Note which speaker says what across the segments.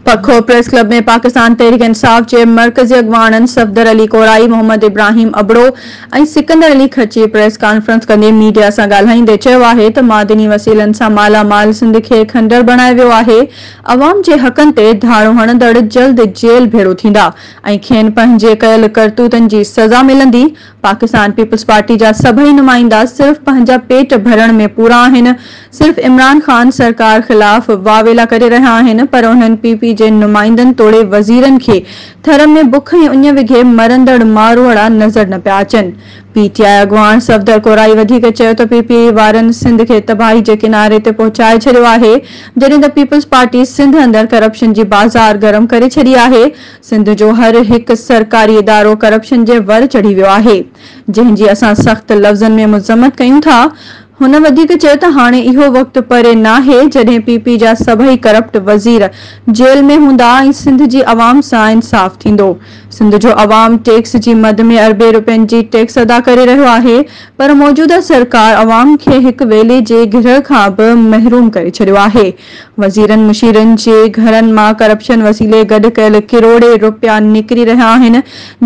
Speaker 1: پکو press club ۾ Pakistan Tehreek Insaf جي مرڪزي اڳواڻن صفدر علي ڪورائي، محمد ابراهيم ابڙو ۽ سڪندر علي خرچي پريس ڪانفرنس ڪندي ميڊيا سان ڳالهائيندي چيو آهي ته معدني وسيلن سان مالا مال سنڌ کي کنڊر بڻايو ويو آهي، عوام جي حقن تي ڌاڙو هڻندڙ جلد جيل ڀيڙو ٿيندا ۽ کين پنهنجي ڪيل ڪرتوتن جي سزا ملندي، پاڪستان پيپلز پارٽي جا سڀئي نمائندا صرف پنهنجا پيٽ ڀرڻ ۾ پورا آهن، صرف عمران خان سرڪار خلاف واويلا ڪري رهيا آهن پر انهن پي پي جي نمائندن توڙي وزيرن کي ٿر ۾ بک ۽ اڃ وگهي مرندڙ ماروئڙا نظر نه پيا اچن. پي ٽي آء اڳواڻ صفدر ڪورائي وڌيڪ چيو ته پي پي اي وارن سنڌ کي تباهي جي ڪناري تي پهچائي ڇڏيو آهي جڏهن ته پيپلز پارٽي سنڌ اندر ڪرپشن جي بازار گرم ڪري ڇڏي آهي سنڌ جو هر هڪ سرڪاري ادارو ڪرپشن جي ور چڙهي ويو آهي، جنهن جي اسان سخت لفظن ۾ مذمت ڪيون ٿا. هن وڌيڪ چيو ته هاڻي اهو وقت پري ناهي جڏهن پي پي جا سڀئي ڪرپٽ وزير جيل ۾ هوندا ۽ سنڌ جي عوام سان انصاف ٿيندو. سنڌ جو عوام ٽيڪس جي مد ۾ اربين روپين جي ٽيڪس ادا ڪري رهيو آهي پر موجوده سرڪار عوام کي هڪ ويلي جي گرهه کان به محروم ڪري ڇڏيو آهي. وزيرن مشيرن جي گهرن مان ڪرپشن وسيلي گڏ ڪيل ڪروڙين رپيا نڪري رهيا آهن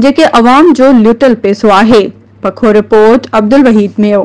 Speaker 1: جيڪي عوام جو لٽيل پئسو آهي، پکو رپورٽ، عبدالوحيد ميو.